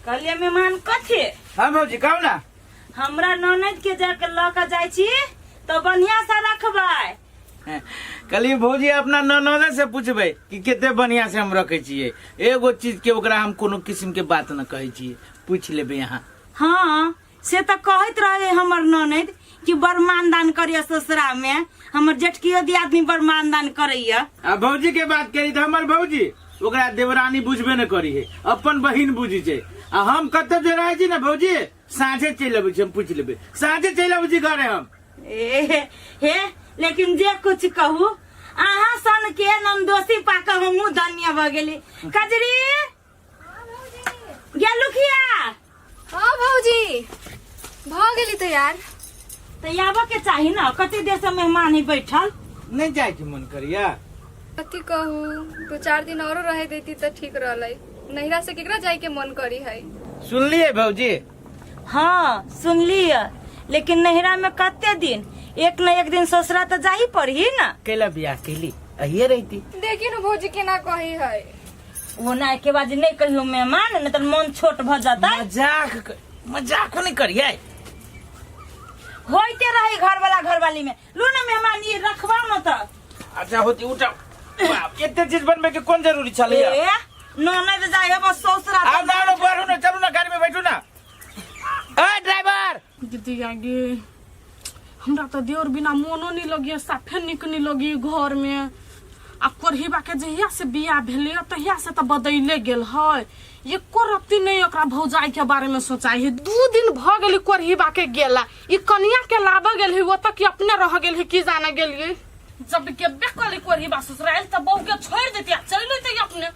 कहलिए मेहमान कथी हम भौजी कहू ना हमरा ननद के जाके लऽ के जाइ छी तो बढ़िया से रखबै कहलिए भौजी अपना ननदे से पूछबै कि कते बढ़िया से हम रखे छिए एगो चीज के ओकरा हम कोनो किस्म के बात न कहै छिए पूछ लेबै अहाँ हाँ से तऽ कहैत रहे हमर ननद कि बड़ मानदान करैया ससुरा मे हमर जेठकियो दियादनी बड़ मानदान करैया आ भौजी के बात करी तऽ हमर भौजी ओकरा देवरानी बुझबे न करी है अपन बहिन बुझी छै आ हम कतौ जे रहै छी ने भौजी साँझे चलि अबै छी हम पूछि लेबै साँझे चलि अबै छी घरे हम ए, हे लेकिन जे कुछ कहू अहाँ सन के नमदोसी पाके हमहूँ धन्य भऽ गेली कजरी गेलू किया हाँ भौजी भऽ गेली तैयार तऽ आबऽ के चाही ने कते देर से मेहमान ही बैठल नहीं जाए के मन करिया कथी कहू दू चार दिन औरो रहे देती तऽ ठीक रहलै नैहरा से केकरा जाय के मन करी है सुनलिए भौजी हाँ सुनलिए लेकिन नैहरा में कते दिन एक न एक दिन ससुरा तऽ जाही पड़ही ना कैला बियाह कैली अहिए रहती देखी न भौजी केना कही है वो ना के बाजी नहीं कहियो मेहमान नहीं तो मन छोट भ जाता मजाक क- मजाक नहीं करिए होते रहे घर वाला घर वाली में लो ना मेहमान ये रखवा मत अच्छा होती उठा बाप, एते चीज बनबे के कोन जरूरी छले ए ननद जाए बस ससुरा आ जाओ ना बाहर ना चलू ना गाड़ी में बैठू ना ए ड्राइवर दीदी आगे हमरा तो देवर बिना मोनो नहीं लगे साफे निक नहीं लगे घर में आ कोरहिबा के जहिया से बियाह भेले तहिया से तो बदले गेल है एको रत्ती नहीं ओकरा भौजाई के बारे में सोचाई है दू दिन भ गेली कोरहिबा के गेला ई कनिया के लाबे गेल है वो तक कि अपने रह गेल है की जाने गेलिए जब के बेकली कोरहिबा ससुराल तो बहू के छोड़ देती आ चल लेती अपने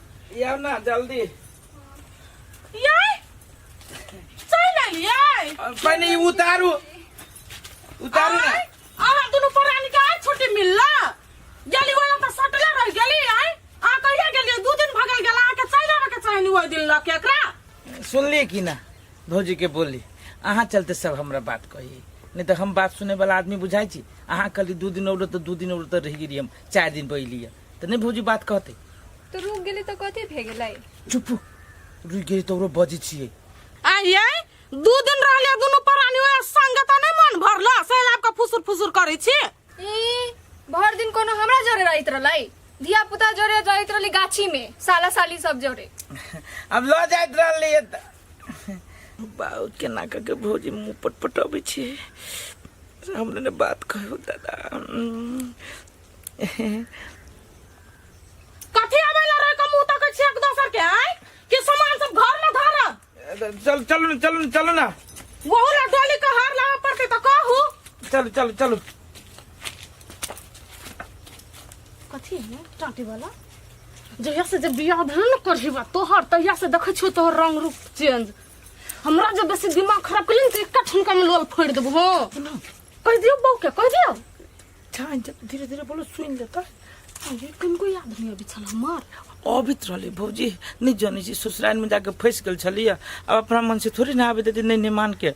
ये ना जल्दी यै चल एलियै पहले ई उतारू उतारू ना आय, अहाँ दुनू परानी के आज छुट्टी मिलला गेली ओला त सटले रह गेली आय अहाँ कहिया गेलियै दू दिन भगल गेला अहाँके चलि आबे के चाही ओहि दिन लऽ के एकरा सुनलिए कि ना भौजी के बोली अहाँ चलते सब हमरा बात कही नहीं तो हम बात सुने वाला आदमी बुझाई छी अहाँ कहली दू दिन औरो तो दू दिन औरो तो रह गेली हम चार दिन पहली तो नहीं भौजी बात कहते तो रुक गेली तो कथी भे गेलै चुप रुक गई तो बजी छिए आइए दू दिन रहले दुनु परानी ओए संगे त नहीं मन भरला से आपका फुसुर फुसुर करै छी ई भर दिन कोनो हमरा जरे रहैत रहलै धिया पुता जरे रहैत रहली गाछी में साला साली सब जरे अब लो जाइत रहली है त बाउ के ना के भौजी मुंह पटपटाबै छिए हमने ने बात कहो दादा कथी आबै ला रे कमू तक छै एक दोसर के आय कि सामान सब घर में धरब चल चलू ने चलू ने चलू ना वहू ला डोली के हार लावे पड़ते तो कहू चलू चलू चलू कथी है ना टाटी वाला जहिया से जब बियाह भेल न करही बा तोहर तहिया से देखै छियो तोहर रंग रूप चेंज हमरा जब बेसी दिमाग खराब कलिन त एकटा ठुनका में लोल फोड़ देबो हो कह दियो बहू के कह दियो चाहन्छ धीरे धीरे बोलो सुन ले त ये कौन कोई आदमी अभी छल हमार अभी तो रहले भौजी नहीं जाने छी ससुराल में जाके फंस गेल छलिए अब अपना मन से थोड़ी ना आवे देती नहीं नहीं मान के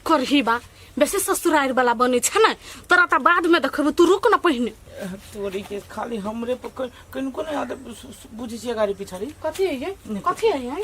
करही बा बेसी ससुरार वाला बने छ न तोरा त बाद में देखबे तू रुक न पहिने तोरी के खाली हमरे पर कन- कन को नहीं आदत बुझे छी गाड़ी पिछाड़ी कथी है ये कथी है ये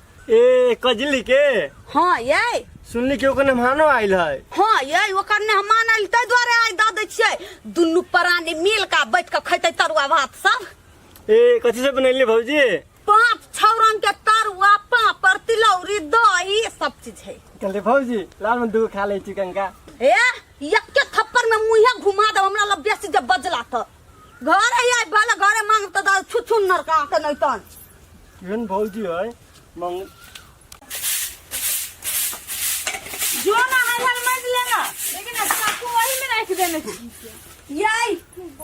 ए कजली के हाँ ये सुनली कि ओकर मेहमानो आइल है हाँ ये ओकर ने हम मानल ताहि दुआरे आइ दऽ दै छियै दुनू प्राणी मिल कऽ बैठ कऽ खैतै तरुआ भात सब ए कथी से बनैली भौजी पाँच छौ रंग के तरुआ पापड़ तिलौरी दही सब चीज है कहले भौजी लाल में दूगो खा ले चिकन का ए यक्के थप्पड़ में मुँहे घुमा दे हमरा लग बेसी जब बजला तऽ घरे आइ भले घरे मांग तऽ छु छु नरका के नहीं तन केहन भौजी है मंग जो ना है हल मज लेना लेकिन अब चाकू वही में रख देने की याई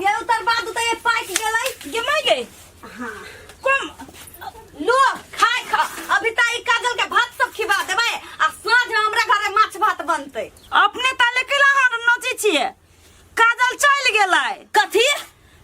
ये उतर बाद उतर ये पाइक गेलाई ये मर गई हां कम लो खाए खा अभी ता ई काजल के भात सब खिवा देबे आ साँझ में हमरा घरे माछ भात बनते अपने ताले के लहर नची छिए काजल चल गेलै कथी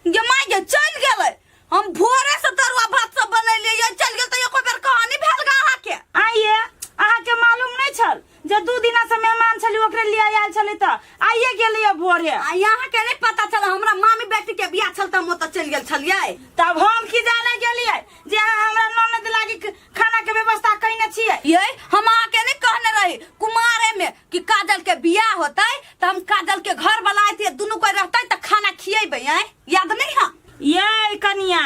ये मर गई चल गेलै हम भोरे से तरुआ भात सब बनैलिए ये चल गेल त एको बेर कहानी भेल गा अहाँ के आइए अहाँ के मालूम नहीं छल जे दू दिना से मेहमान छली ओकरे लिए आयल छली त आइए गेलिए भोरे आ यहाँ के नहीं पता चल हमरा मामी बेटी के बियाह छल त हम ओतऽ चल गेल छलिए तब हम की जाने गेलिए जे अहाँ हमरा ननद लागी क- खाना के व्यवस्था कइने छिए ये हम अहाँ के नहीं कहने रही कुमारे में कि काजल के बियाह होतै त हम काजल के घर वाला आइतिए दुनू कोई रहतै त खाना खिएबै हैं याद नहीं है ये कनिया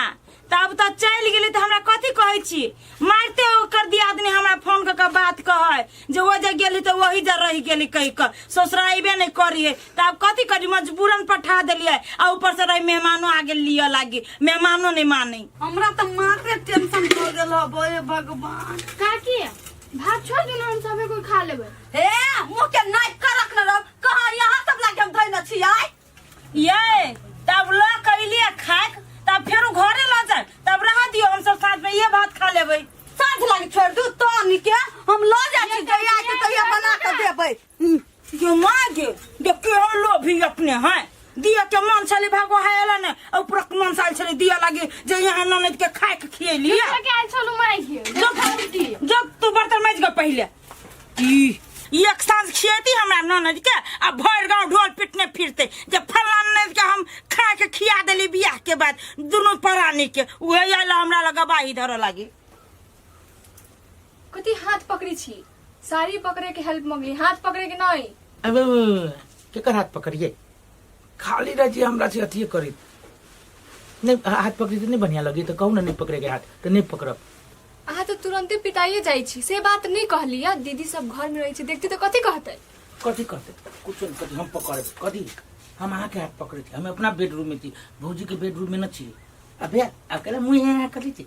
तब तो चल गेली तो हमरा कथी कहै छी मारते हो कर दिया आदमी हमरा फोन कर के बात कहै जे वो जे गेली तो वही जे रह गेली कह के ससुरा अइबे नहीं करिए तब कथी करी मजबूरन पठा देलिए आ ऊपर से रही मेहमानो आ गेल लिया लागी मेहमानो नहीं मानी हमरा तो माथे टेंशन हो गेल हो बोए भगवान काकी भात छोड़ दू ना हम सबे कोई खा लेबै हे मुँह के नाक करक न रहो कहाँ यहाँ सब लागे हम धैले छियै ये तब ला कैली आ खाक तब फिर घरे ला जाए तब रह दियो हम सब साथ में ये भात खा लेबै साथ लग छोड़ दू तो निके हम लो जा छी जइया के तइया बना के देबै जो माँ जे देखियो हम लोभी अपने हैं दिया के मन छले भागो है एला ने और प्रक मन साल छले दिया लागे जे यहाँ ननद के खाए के खियली क्या चलू माई जब जब तू बर्तन माज के पहले ई ई एक साँझ खिएती हमरा ननद के आ भरि गाँव ढोल पिटने फिरते जे फल्ला ननद के हम खा के खिया देली बियाह के बाद दुनू परानी के उहे आयल हमरा लग गवाही धरऽ लागी कथी हाथ पकड़ी छी साड़ी पकड़े के हेल्प मंगली हाथ पकड़े के नहीं अब केकर हाथ पकड़िए खाली रह जी हमरा से अथिए करी नहीं हाथ पकड़ी तो नहीं बढ़िया लगी तो कहू ना नहीं पकड़े के हाथ तो नहीं पकड़ब अहाँ तऽ तुरंते पिटाइए जाइ छी से बात नहि कहली आ दीदी सब घर में रहै छै देखती तऽ कथी कहतै कथी कहते कुछ नहीं कथी हम पकड़े कथी हम अहाँ के हाथ पकड़े थी हम अपना बेडरूम में थी भौजी के बेडरूम में न छी अबे अकेले मुँह यहाँ कर ली थी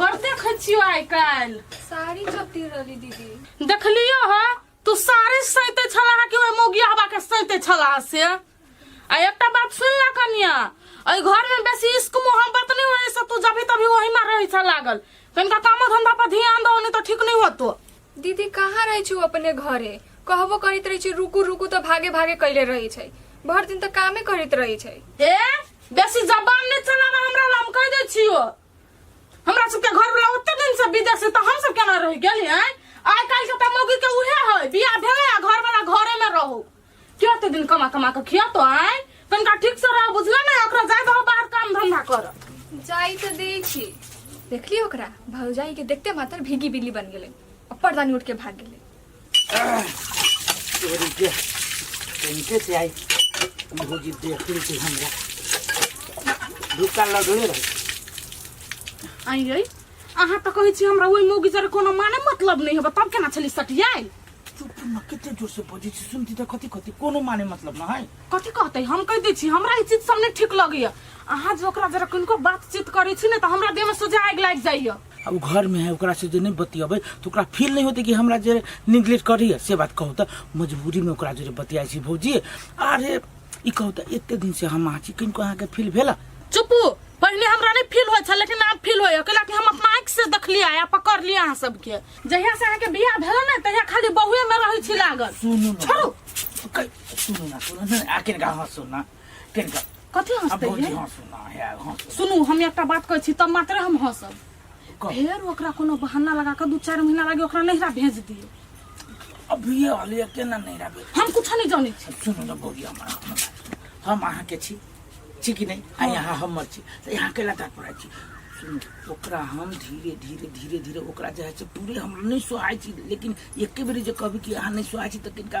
बड़ देखै छियो आइ काल्हि साड़ी कति रहली दीदी देखलियो ह तू साड़ी सैते छला हा कि ओहि मौगिया हवा के सैते छला हा से आ एकटा बात सुन ला कनिया एहि घर में बेसी इश्क मोहब्बत नहीं होने से तू जभी तभी वही में रही छा लागल कनिका कामो धंधा पर ध्यान दो नहीं तो ठीक नहीं होतो दीदी कहाँ रहै छु अपने घरे कहबो करैत रहै छै रुकू रुकू तऽ भागे भागे कैले रहै छै भर दिन तऽ कामे करैत रहै छै ए बेसी जबान नहीं चलावा हमरा ला हम कह दे छियो हमरा सबके घर वाला ओते दिन से विदेश से तो हम सब केना रह गेली हैं आइ काल्हि के तमोगी के उहे है बियाह भेले आ घर वाला घरे में रहो के ओते दिन कमा कमा के खिया तो आइ तनका ठीक से रह बुझला ना ओकरा जाय दहो बाहर काम धंधा कर जाई तो दै छी देखली ओकरा भौजाई के देखते मात्र भीगी बिल्ली बन गेलै आ पर्दानी उठ के भाग गेलै के इनके से आई इनको जी देख ली थी हमरा धुक्का लगले रहे आई गई अहाँ तऽ कहै छी हमरा ओहि मौगी जरे कोनो माने मतलब नहि हेबे तब केना छली सटियाइ चुप न कते जोर से बजे छी सुनती त कथी कथी कोनो माने मतलब न है कथी कहतै हम कहि दै छी हमरा ई चीज सब नहि ठीक लगैए अहाँ जे ओकरा जरे किनको बातचीत करै छी ने तऽ हमरा देहमे सोझा आगि लागि जाइए अब घर में है ओकरा से जे नहीं बतियेबै तो ओकरा फील नहीं होते कि हमरा जे निग्लेक्ट करिए से बात कहू तो मजबूरी में ओकरा जे बतियाई छी भौजी अरे ई कहू तो एते दिन से हम आछी किनको अहाँके फील भेला चुपू पहले हमरा नहीं फील होय छल लेकिन आब फील होय कैला कि हम अपना आँख से देखलिए आ पकड़ लिए अहाँ सबके जहिया से अहाँके बियाह भेल ने तहिया खाली बहुए में रहै छी लागल सुनू ना। छोड़ू कै- सुनू ना सुनू ना आके गाँव सुनना किनका कथी अब हंसते भौजी है हंसू ना है हंसू सुनू हम एकटा बात कहै छी तब मात्र हम हंसब कह। फेर ओकरा कोनो बहाना लगा कऽ दू चारि महीना लागे ओकरा नैहरा भेज दियौ अभी ये वाली है, केना नहीं रहे हम कुछ नहीं जानै छी सुनू ना भौजी हमारा हमारा। हम अहाँ के छी छी कि नहीं आ यहाँ हमर छी तो यहाँ के लगा पड़ा छी सुनू ओकरा हम धीरे धीरे धीरे धीरे ओकरा जे है से पूरे हम नहीं सुहाय छी लेकिन एके बेरी जे कहबी कि अहाँ नहीं सुहाय छी तो किनका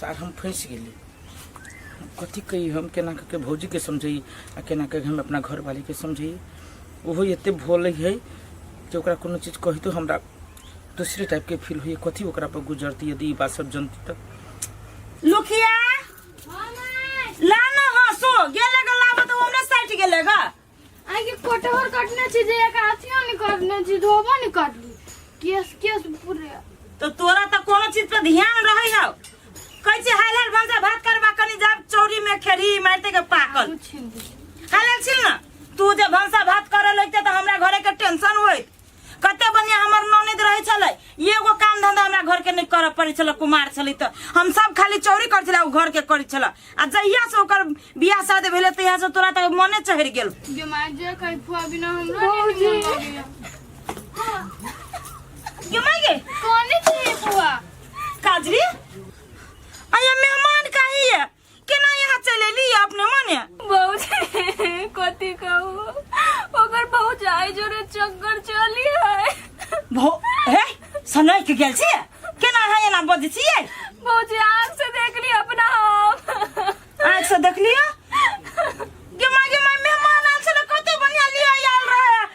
सार हम फँसि गेली हम कथी कही हम केना कऽ के भौजीके समझैयै आ केना कऽ के हम अपना घरवालीके समझैयै ओहो एतेक भोलै हइ जे ओकरा कोनो चीज कहितो हमरा दोसरे टाइपके फील होइए कथी ओकरा पर गुजरती यदि ई बात सब जनती तऽ लुखिया ला न हँसो गेले ग लाबऽ तऽ ओने साइट गेले ग आई के कोटहर कटने छी जे एक आसिया नहीं कटने छी धोबो नहीं कटली केस केस पूरे तो तोरा तो कोनो चीज पे ध्यान रहे है कैसे हाल हाल भौजा भात करवा कनी जब चौरी में खेरी मारते के पाकल कुछ नहीं हाल हाल छिल ना तू जे भौसा भात करे लगते तो हमरा घरे के टेंशन होई कते बढ़िया हमर ननद रहे छले एगो काम धंधा हमरा घर के नहीं करऽ पड़े छले कुमार छले तो हम सब खाली चोरी कर छले उ घर के करे छले आ जहिया से ओकर बियाह शादी भेले तहिया से तोरा तक मने चढ़ गेल जो मार जे कहीं फुआ बिना हमरा नहीं निमन लागैया। क्यों माई गे कौने चाहिए फुआ काजरी अये मेहमान काहे ये केना यहाँ चल एली अपने मने भौजी कथी कहू ओकर भौजाई जोरे चक्कर चली है भो हे सनय के गेल छी केना है एना बजे छियै भौजी आँख से देखली अपना हम आँख से देखलियो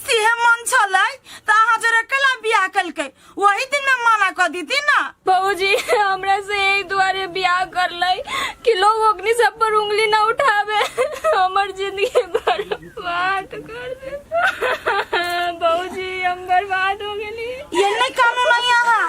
सेहे मन छलै त अहाँ जरे कला बियाह कलकै वही दिन में मना क दीती ना बाबूजी हमरा से यही दुआरे ब्याह कर लई कि लोग ओकनी सब पर उंगली ना उठावे हमर जिंदगी बर्बाद कर दे बाबूजी हम बर्बाद हो गेली ये नहीं कानून है यहाँ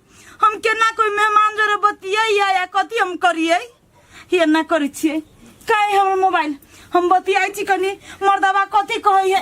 हम केना कोई मेहमान जरे बतियै या कथी हम करियै ये ना करै छियै काहे हमर मोबाइल हम बतियाइ छी कनी मर्दबा कथी कहै है